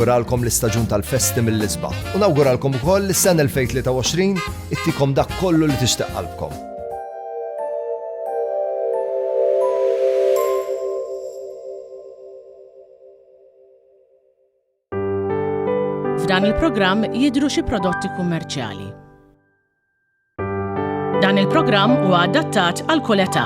Nawguralkom l-istaġun tal-festi mill-isbaħ u nawguralkom ukoll li s-sena 2023 ittikom dak kollu li tixtieq qalbkom. F'dan il-programm jidhru xi prodotti kummerċjali. Dan il-programm huwa adattat għal kull età.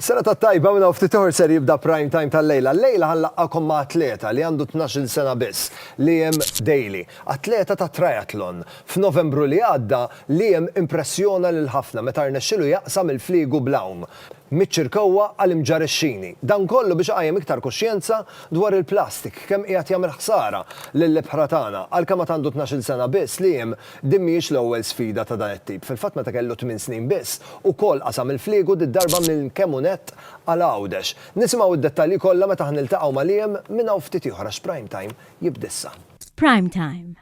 Sena ta' tajba minna u ftit ser jibda prime time tal-lejla. Lejla ħanlaqqakom ma' atleta li għandu 12 sena biss, Liam Daly, atleta ta' triathlon. F'Novembru li għadda, Liam impressjona lil ħafna meta rnexxilu jaqsam il-fliegu bl-għawm. miċ-ċirkewwa għal imġarixxini. Dan kollu biex iqajjem iktar kuxjenza dwar il-plastik, kemm qiegħed jagħmel ħsara lill-ibħra tagħna. Għalkemm għad għandu tnax-il sena biss, Liam, din mhijiex l-ewwel sfida ta' dan it-tip. Fil-fatt meta kellu tmien snin biss, ukoll qasam il-fliegu did-darba minn Kemunet għal Għawdex. Nisimgħu d-dettalji kollha meta ħa niltaqgħu ma' Liam minn hawn ftit ieħor għax Prime Time jibda issa. Prime Time,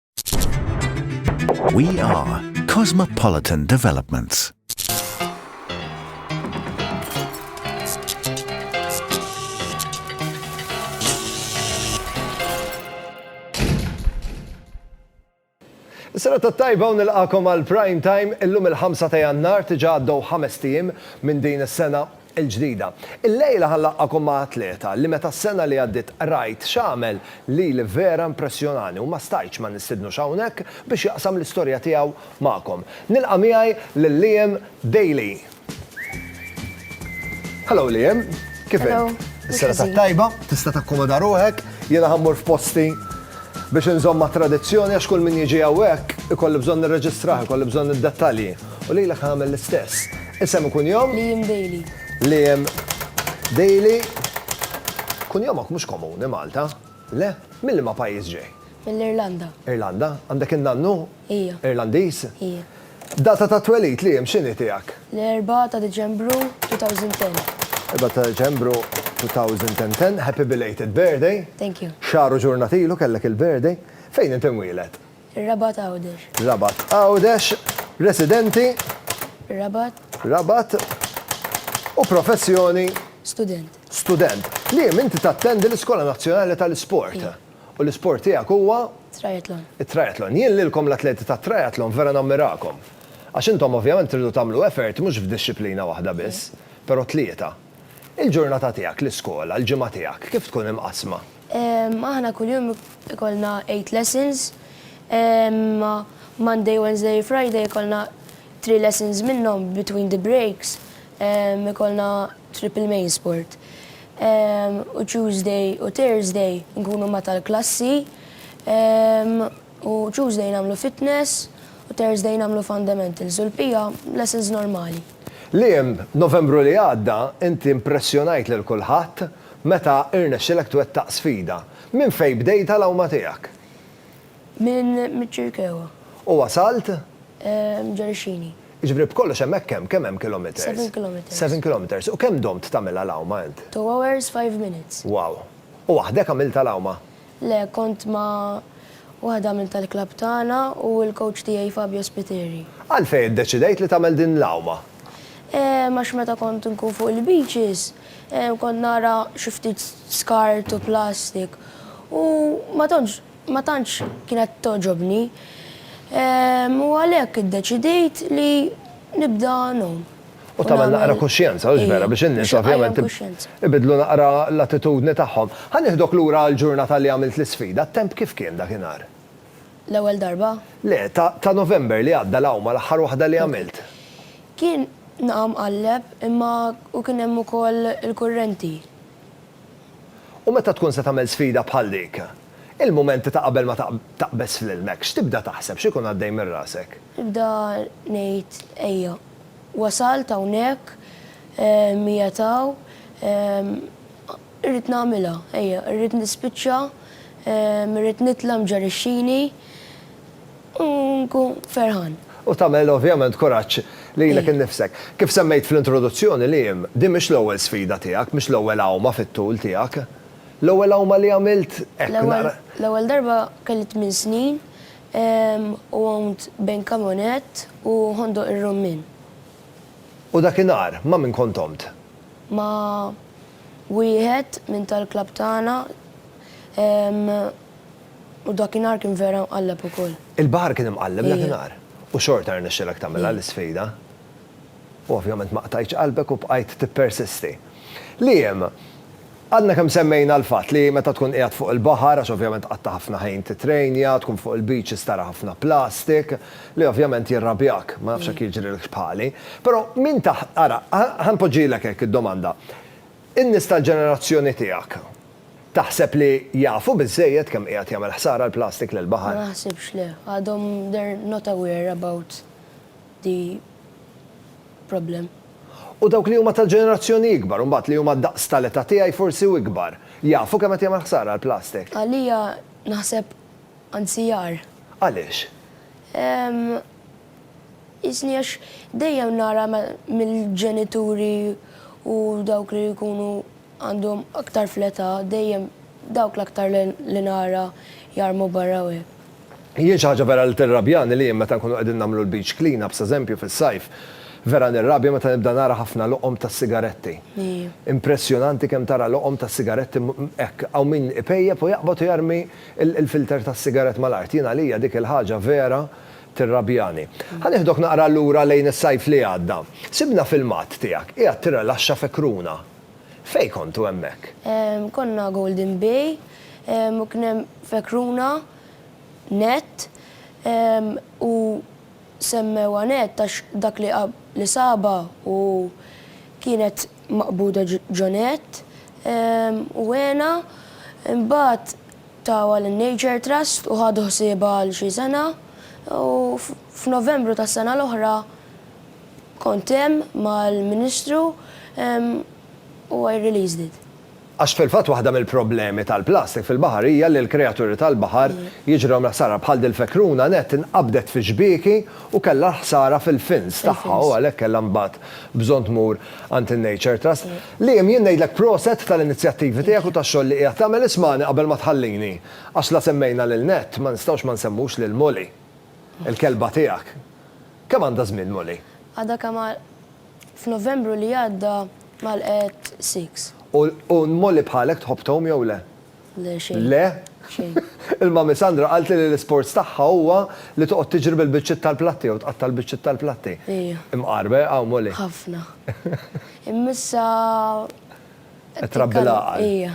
We are Cosmopolitan Developments. Sena ta' tajba u nilqakom għal prime time illum il-5 ta' jannar tiġa għaddew ħames tim minn din is-sena il-ġdida. Illejla ħa nlaqqagħkom ma' atleta li meta s-sena li għaddiet qrajt x'għamel lili vera impressjonani u ma stajtx ma nistidnux hawnhekk biex jaqsam l-istorja tiegħu magħkom. Nilqa' miegħi lil Liam Daly. Hello Liam, kif int? Hello. Is-serata t-tajba, tista' takkomoda ruħek, jiena ħa mmur f'posti biex inżomm mat-tradizzjoni għax kull min jiġi hawnhekk ikolli bżonn nirreġistrah, ikolli bżonn id-dettalji. U lilek nagħmel l-istess. Isem u kunjom? Liam Daly. Liam Daly. Kunjomok mhux komuni Malta, le? Minn liema pajjiż ġej? Mill-Irlanda. Irlanda? Għandek in-nannu? Ija. Irlandiż? Ija. Data ta' twelid, Liam, x'inhi tiegħek? L-Erbgħa ta' Diċembru 2010. Erbgħa ta' Diċembru 2010. Happy belated birthday. Thank you. Xahar u ġurnat ilu kellek il-birthday. Fejn int imwieled? Rabat Għawdex. Rabat Għawdex, residenti. Rabat. Rabat. U professjoni. Student. Student. Li inti tattendi l-Iskola Nazzjonali tal-Isport. U l-isport tiegħek huwa? Triathlon. It-triathlon. Jien lilkom l-atleti tat-triathlon vera nammirakom. Għax intom ovvjament tridu tagħmlu effort mhux f'dixxiplina waħda biss, però tlieta. Il-ġurnata tiegħek, l-iskola, l-ġimgħa tiegħek, kif tkun imqassma? Aħna kuljum ikollna 8 lessons. Monday, Wednesday, Friday ikollna 3 lessons minnhom between the breaks ikollna triple main sport. U Tuesday u Thursday nkunu ma' tal-klassi u Tuesday nagħmlu fitness u Thursday nagħmlu fundamentals u l-bqija lessons normali. Liam, Novembru li għadda inti impressjonajt lil kulħadd Meta rnexxilek twettaq sfida? Minn fejn bdejtha l-għawma tiegħek? Minn miċ-Ċirkewwa. U wasalt? Ġarixxini. Jiġifieri b'kollox hemmhekk kemm, kemm hemm kilometers? Seven kilometers. Seven kilometers. U kemm domt tagħmilha l-għawma int? Two hours, five minutes. Wow. U waħdek għamiltha l-għawma? Le, kont ma' waħda minn tal-klabb tagħna u l-kowċ tiegħi Fabio Spiteri. Għalfejn iddeċidejt li tagħmel din l-għawma? Ehm, għax meta kont inkun fuq il-beaches, ehm, kont nara xi ftit skart u plastik u ma tantx ma tantx kienet togħġobni. Ehm, u għalhekk iddeċidejt li nibda ngħum. U tagħmel naqra kuxjenza, hux vera, biex in-nies ovvjament ibidlu naqra l-attitudni tagħhom. Ħa nieħdok lura għall-ġurnata li għamilt l-isfida, t-temp kif kien dakinhar? L-ewwel darba? Le, ta' November li għadda l-awma l-aħħar waħda li għamilt. Kien naqgħa mqalleb imma u kien hemm ukoll il-kurrenti. U meta tkun se tagħmel sfida bħal dik? Il-mumenti ta' qabel ma taqbeż fl-ilmek, x'tibda taħseb, x'ikun għaddej minn rasek? Nibda ngħid ejja. Wasalt hawnhekk, qiegħed hawn, irrid nagħmilha, ejja, irrid nispiċċa, irrid nitla' mġarrixxini u nkun ferħan. U tagħmel ovvjament kuraġġ lilek innifsek. Kif semmejt fl-introduzzjoni, Liam, din mhix l-ewwel sfida tiegħek, mhix l-ewwel għawma fit-tul tiegħek. L-ewwel għawma li għamilt hekk naqra. L-ewwel darba kelli tmien snin, u għomt bejn Kamonet u Ħondoq ir-Rummin. U dakinhar ma' min kont għomt? Ma' wieħed minn tal-klabb tagħna u dakinhar kien vera mqalleb ukoll. Il-baħar kien imqalleb dakinhar? U xorta rnexxielek tagħmilha l-isfida? U ovvjament ma qtajtx qalbek u bqajt tippersisti. Liam, Għadna kemm semmejna l-fatt li meta tkun qiegħed fuq il-baħar, għax ovvjament tqatta' ħafna ħin tittrejnja, tkun fuq il-beaches tara ħafna plastik, li ovvjament jirrabjak, ma nafx jekk jiġrilkx bħali. Però min ta' ara, ħa npoġġilek hekk id-domanda, in-nies tal-ġenerazzjoni tiegħek taħseb li jafu biżżejjed kemm qiegħed jagħmel ħsara l-plastik lill-baħar? Ma naħsibx le. Għadhom they're not aware about the problem. U dawk li huma tal-ġenerazzjoni ikbar, u mbagħad li huma d-daqs tal-età tiegħi forsi u ikbar, jafu kemm qed jagħmel ħsara l-plastik? Għalija naħseb anzi agħar. Għaliex? Ehm, jisni għax dejjem nara mill-ġenituri u dawk li jkunu Għandhom aktar fl-età, dejjem dawk l-aktar li nara jarmu barra u hekk. Jien xi ħaġa vera li tirrabjani li jien meta nkunu qegħdin nagħmlu l-beach clean-ups, eżempju, fis-sajf, vera nirrabja meta nibda nara ħafna loqom ta' sigaretti. Impressjonanti kemm tara loqom ta' sigaretti hekk. Hawn min ipejjep u jaqbad u jarmi l-filter tas-sigarett mal-art. Jien għalija dik il-ħaġa vera tirrabjani. Ħa nieħdok naqra lura lejn is-sajf li għadda. Sibna filmat tiegħek qiegħed tirrelaxxa f'Ekruna. Fejn kontu hemmhekk? Konna Golden Bay u kien hemm fekruna nett u semmewha nett għax dak li li sabha u kienet maqbuda ġo nett u għenha. Imbagħad tawha lin-Nature Trust u ħadu ħsiebha għal xi sena u f'Novembru tas-sena l-oħra Kont hemm mal-Ministru u I released it. Għax fil-fatt waħda mill-problemi tal-plastik fil-baħar hija li l-kreaturi tal-baħar jiġrilhom l-ħsara bħal dil-fekruna nett inqabdet fi xbieki u kellha l-ħsara fil-fins tagħha u għalhekk kellha mbagħad bżonn tmur għand in-Nature Trust. Liam jien ngħidlek proset tal-inizjattivi tiegħek u tax-xogħol li qiegħed tagħmel ismagħni qabel ma tħallini għax la semmejna lil Nett ma nistgħux ma nsemmux lil Molly. Il-kelba tiegħek. Kemm għandha żmien Molly? Għadha kemm għal F'Novembru li għadda għalqet six. U Molly bħalek tħobb tgħum jew le? Le xejn. Le? Xejn. Il-Mummy Sandra qaltli li l-isports tagħha huwa li toqgħod tiġri bil-biċċiet tal-platti jew tqatta' l-biċċiet tal-platti. Ija. Imqar b'ha Molly? Ħafna. Imma issa Qed trabbi l-għaqal. Ija.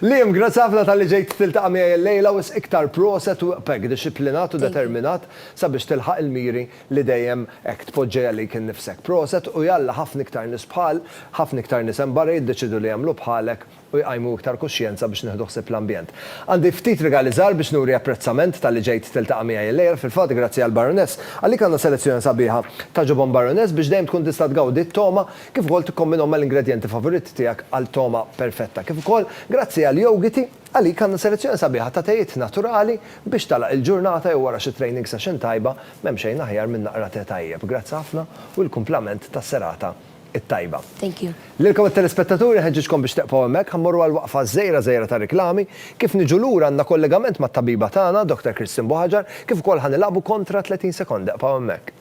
Liam, grazzi ħafna talli ġejt tiltaqa' miegħi illejla, wisq iktar proset u hekk dixxiplinat u determinat sabiex tilħaq il-miri li dejjem hekk tpoġġi għalik innifsek. Proset u jalla ħafna iktar nies bħal, ħafna iktar nies hemm barra jiddeċiedu li jagħmlu bħalek u jqajmu iktar kuxjenza biex nieħdu ħsieb l-ambjent. Għandi ftit rigali żgħar biex nuri apprezzament talli ġejt tiltaqa' miegħi illejla, fil-fatt grazzi għall-Baroness. Għalik għandna selezzjoni sabiħa ta' ġubon Baroness biex dejjem tkun tista' tgawdi t-togħma kif ukoll tikkombinhom mal-ingredjenti favoritti tiegħek għal togħma perfetta. Kif ukoll, grazzi għal Yogiti, għalik għandna selezzjoni sabiħa ta' tejiet naturali biex tagħlaq il-ġurnata jew wara xi training session tajba, m'hemm xejn aħjar minn naqra te tajjeb. Grazzi ħafna u l-kumplament tas-serata t-tajba. Thank you. Lilkom it-telespettaturi nħeġġiġkom biex tieqfgħu hemmhekk, ħa mmorru għal waqfa żgħira żgħira ta' riklami. Kif niġu lura għandna kollegamment mat-tabiba tagħna, Dr. Christine Buhagiar, kif ukoll ħa nilagħbu kontra 30 sekonda. Eqfgħu hemmhekk.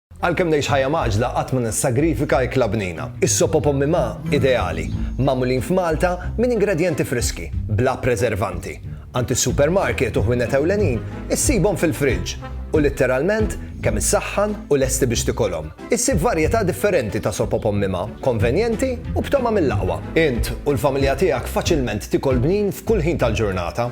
Għalkemm ngħix ħajja mgħaġġla qatt ma nissagrifika ikla bnina. Is-sop u pommi ma, ideali, magħmulin f'Malta minn ingredjenti friski, bla preservanti. Għand is-supermarket u ħwienet ewlenin issibhom fil-friġġ u litteralment kemm issaħħan u lesti biex tikolhom. Issib varjetà differenti ta' sop u pommi ma, konvenjenti u b'togħma mill-aqwa. Int u l-familja tiegħek faċilment tikol bnin f'kull ħin tal-ġurnata.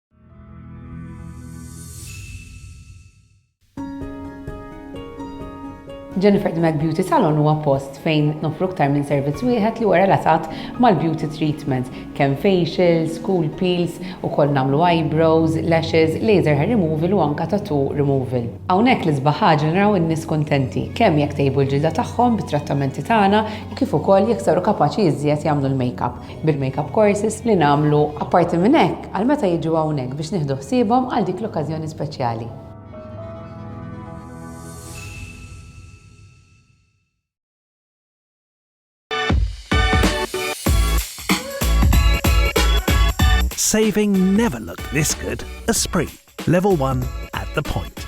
Jennifer Dmek Beauty Salon huwa post fejn nofru ktar minn servizz wieħed li huwa relatat mal-beauty treatment, kemm facials, cool peels, ukoll nagħmlu eyebrows, lashes, laser hair removal u anka tattoo removal. Hawnhekk l isbaħ ħaġa naraw in-nies kuntenti, kemm jekk tejbu l-ġilda tagħhom bit-trattamenti tagħna u kif ukoll jekk saru kapaċi iżjed jagħmlu l-makeup. bil-makeup courses li nagħmlu. Apparti minn hekk, għal meta jiġu hawnhekk biex nieħdu ħsiebhom għal dik l-okkażjoni speċjali. Saving never looked this good. Esprit, level one at the point.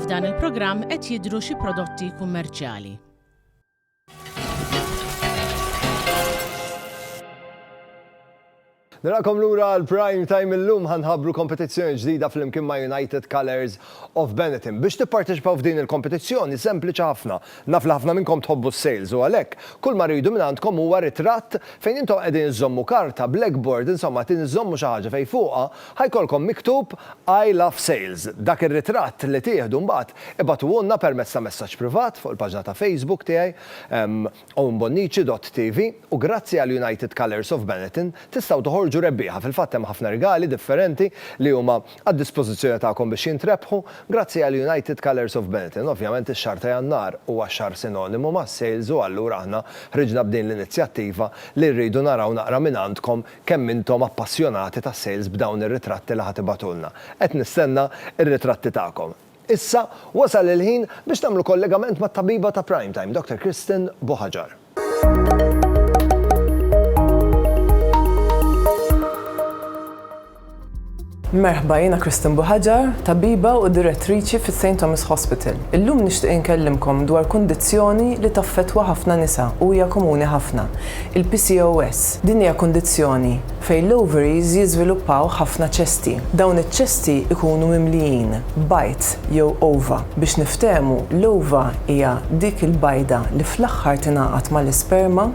F'dan il-programm qed jidhru xi prodotti kummerċjali. Narakom lura l-prime time illum ħanħabru kompetizzjoni ġdida fl-imkien ma' United Colors of Benetton. Biex tipparteċipaw f'din il-kompetizzjoni sempliċi ħafna. Naf li ħafna minnkom tħobbu s-sales u għalhekk kull ma rridu minn għandkom huwa ritratt fejn intom qegħdin iżommu karta, blackboard, insomma qed iżommu xi ħaġa fejn fuqha Ħa jkollkom miktub I love sales. Dak ir-ritratt li tieħdu mbagħad ibagħtuhulna permezz ta' messaġġ privat fuq il-paġna ta' Facebook tiegħi, owenbonnici dott TV, u grazzi għal United Colours of Benetton tistgħu toħorġu rebbieħa, fil-fatt hemm ħafna rigali differenti li huma għad-dispożizzjoni tagħkom biex jintrebħu, grazzi għal United Colours of Benetton. Ovvjament ix-xahar ta' Jannar huwa xahar sinonimu mas-sales u allura aħna ħriġna b'din l-inizjattiva li rridu naraw naqra mingħandkom Kemm intom appassjonati tas-sales b'dawn ir-ritratti li ħa tibgħatulna. Qed nistenna r-ritratti tagħkom. Issa, wasal il-ħin biex tagħmlu kollegament mat-tabiba ta' Prime Time, Dr. Kristen Buhaġar. Merħba, jiena Kristen Buħaġar, tabiba u direttriċi fis-St Thomas Hospital. Illum nixtieq inkellimkom dwar kundizzjoni li taffettwa ħafna nisa u hija komuni ħafna, il-PCOS. Din hija kundizzjoni fejn l-ovaries jiżviluppaw ħafna ċesti. Dawn iċ-ċesti jkunu mimlijin bajd jew ova. Biex niftehmu, l-ova hija dik il-bajda li fl-aħħar tingħaqad mal-isperma.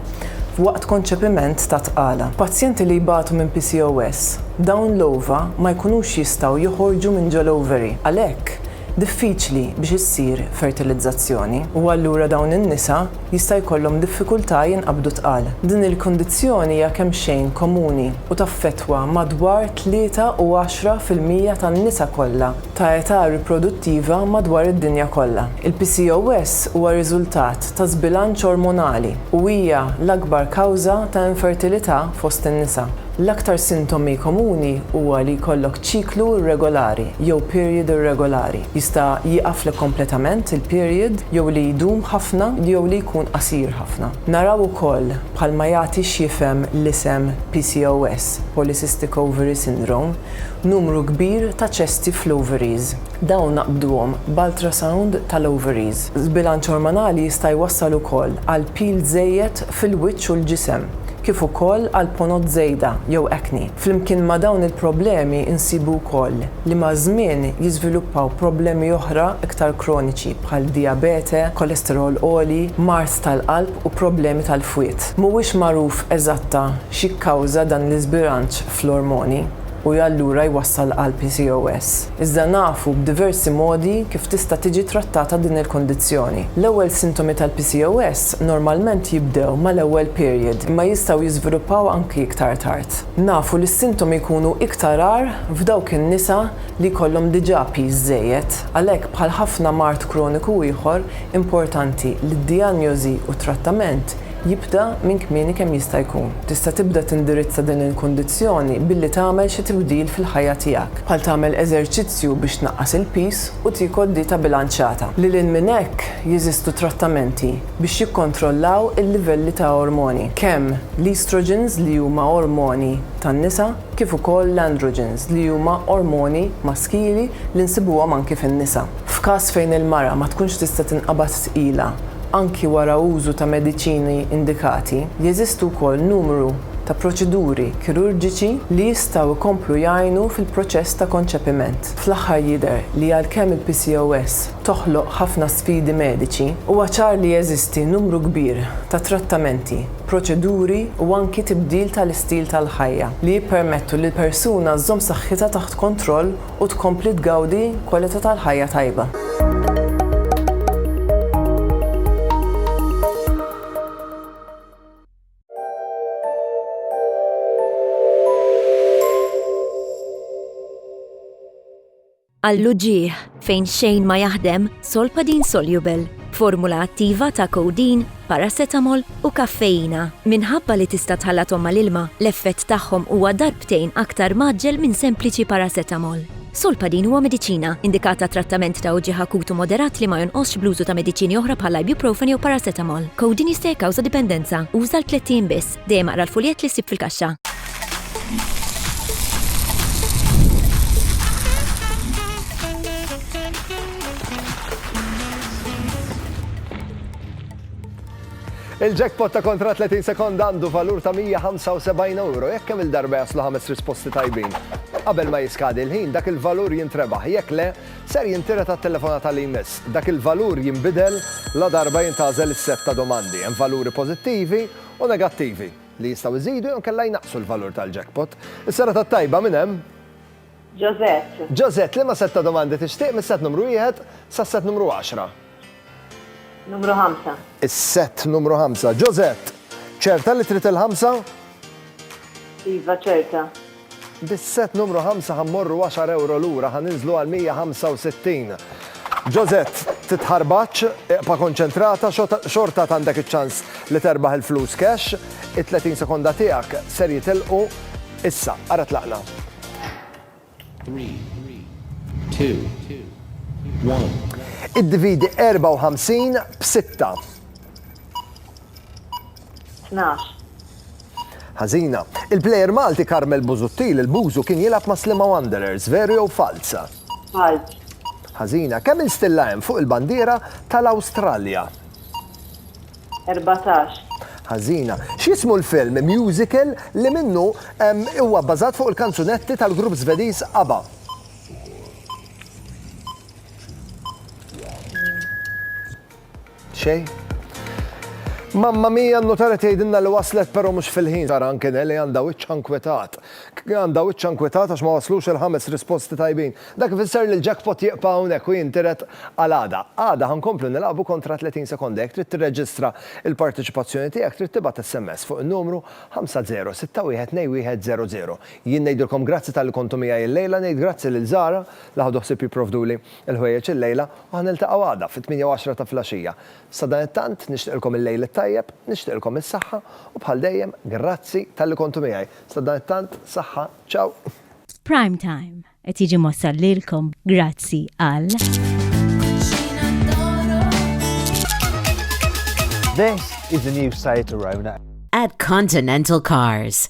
waqt konċepiment ta' tqala. Pazjenti li jbatu minn PCOS, dawn l-ova ma jkunux jistgħu joħorġu minn ġol-ovary, għalhekk diffiċli biex issir fertilizzazzjoni, u allura dawn in-nisa jista' jkollhom diffikultà jinqabdu tqal. Din il-kundizzjoni hija kemxejn komuni u taffettwa madwar tlieta u għaxra fil-mija tan-nisa kollha ta' età riproduttiva madwar id-dinja kollha. Il-PCOS huwa riżultat ta' żbilanċ ormonali u hija l-akbar kawża ta' infertilità fost in-nisa. L-aktar sintomi komuni huwa li jkollok ċiklu irregolari jew period irregolari, jista' jieqaflek kompletament il-period jew li jdum ħafna jew li jkun qasir ħafna. Naraw ukoll, bħalma jagħti x'jifhem l-isem PCOS, Polycystic Ovary Syndrome, numru kbir ta' ċesti fl-ovaries. Dawn naqbduhom b'ultrasound tal-ovaries. Żbilanċ ormonali jista' jwassal ukoll għal pil żejjed fil-wiċċ u l-ġisem, kif ukoll għal ponot żejda jew acne. Flimkien ma' dawn il-problemi nsibu wkoll li maż-żmien jiżviluppaw problemi oħra iktar kroniċi bħal dijabete, kolesterol għoli, mard tal-qalb u problemi tal-fwied. Mhuwiex magħruf eżatta x'jikkawża dan l-iżbilanċ fl-ormoni u allura jwassal għal PCOS. Iżda nafu b'diversi modi kif tista' tiġi trattata din il-kundizzjoni. L-ewwel sintomi tal-PCOS normalment jibdew mal-ewwel period imma jistgħu jiżviluppaw anki iktar tard. Nafu li s-sintomi jkunu iktar agħar f'dawk in-nisa li jkollhom diġà piż żejjed. Għalhekk bħal ħafna mard kroniku ieħor, importanti li d-dijanjosi u t-trattament jibda minn kmieni kemm jista' jkun. Tista' tibda tindirizza din il-kundizzjoni billi tagħmel xi tibdil fil-ħajja tiegħek, bħal tagħmel eżerċizzju biex tnaqqas il-piż u tiekol dieta bilanċjata. Lil hinn minn hekk, jeżistu trattamenti biex jikkontrollaw il-livelli ta' ormoni, kemm l-estrogens li huma ormoni tan-nisa kif ukoll l-androgens li huma ormoni maskili li nsibuhom anki fin-nisa. F'każ fejn il-mara ma tkunx tista' tinqabad tqila, anki wara użu ta' mediċini indikati, jeżistu wkoll numru ta' proċeduri kirurġiċi li jistgħu jkomplu jgħinu fil-proċess ta' konċepiment. Fl-aħħar jidher li għalkemm il-PCOS toħloq ħafna sfidi mediċi, huwa ċar li jeżisti numru kbir ta' trattamenti, proċeduri u anki tibdil tal-istil tal-ħajja li jippermettu lill-persuna żżomm saħħitha taħt kontroll u tkompli tgawdi kwalità tal-ħajja tajba. Għall-uġigħ, fejn xejn ma jaħdem, Solpadeine Soluble, b'formula attiva ta' codeine, paracetamol u kaffeina. Minħabba li tista' tħallathom mal-ilma, l-effett tagħhom huwa darbtejn aktar mgħaġġel minn sempliċi paracetamol. Solpadeine huwa mediċina, indikat għat-trattament ta' uġigħ akut u moderat li ma jonqosx bl-użu ta' mediċini oħra bħall-ibuprofen jew paracetamol. Codeine jista' jikkawża dipendenza. Uża għal tlett ijiem biss. Dejjem aqra l-fuljett li ssib fil-kaxxa. Il-jackpot ta' kontra 30 sekond għandu valur ta' 175 euro jekk kemm il-darba jaslu ħames risposti tajbin. Qabel ma jiskadi l-ħin dak il-valur jintrebaħ jekk le ser jintira ta' telefonata li jmiss. Dak il-valur jinbidel la darba jintazel is-set ta' domandi. Hemm valuri pożittivi u negattivi, li jistgħu jżidu jew inkella jnaqqsu l-valur tal-jackpot. Is-serata t-tajba minn hemm! Josette. Josette, liema sett ta' domandi tixtieq mis-sett numru wieħed sas-sett numru għaxra? Numru ħamsa. Is-sett numru ħamsa. Josette, ċerta li trid il-ħamsa? Iva, ċerta. Bis-set numru ħamsa ħa mmorru għaxar ewro lura, ħa ninżlu għal 165. Josette, titħarbatx, ibqa' konċentrata, xorta għad għandek iċ-ċans li terbaħ il-flus cash, it-30 sekonda tiegħek ser jitilqu issa. Ara tlaqna. Iddividi 54 b'sitta. Tnax. Ħażina. Il-plejer Malti Karmel Busuttil, il-Bużu, kien jilgħab ma' Sliema Wanderers, veru jew falz? Falz. Ħażina. Kemm il stilla hemm fuq il-bandiera tal-Awstralja? Erbatax. Ħażina. X'jismu l-film, musical, li minnu huwa bbażat fuq il-kanzunetti tal-grupp Żvediż ABBA? Xejn? Mamma mia, n-notara tgħidilna li waslet però mhux fil-ħin. Tara anke Nelly għandha wiċċha nkwetat. Għandha wiċċha nkwetat għax ma waslux il-ħames risposti tajbin. Dak ifisser li l-jackpot jieqpa' hawnhekk u jintiret għal għada. Għada ħa nkomplu nilagħbu kontra 30 sekonda. Jekk trid tirreġistra l-parteċipazzjoni tiegħek trid tibgħat SMS fuq in-numru 50612100. Jien ngħidilkom grazzi talli kontu miegħi llejla, ngħid grazzi lil Zara li ħadu ħsieb jipprovduli Il-ħwejjeġ illejla u ħa niltaqgħu għada fit-tmienja u għaxra ta' filgħaxija. Sadanittant, nixtieqilkom il-lejl it-tajjeb, nixtieqilkom is-saħħa u bħal dejjem, grazzi talli kontu miegħi. Sadanittant, saħħa, ciao! Prime Time qed jiġi mwassal lilkom grazzi għal. This is the new Seat Arona. At Continental Cars.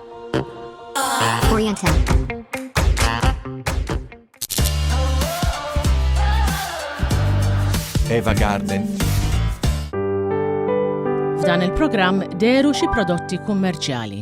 Eva Garden. F'dan il-programm deru xi prodotti kummerċjali.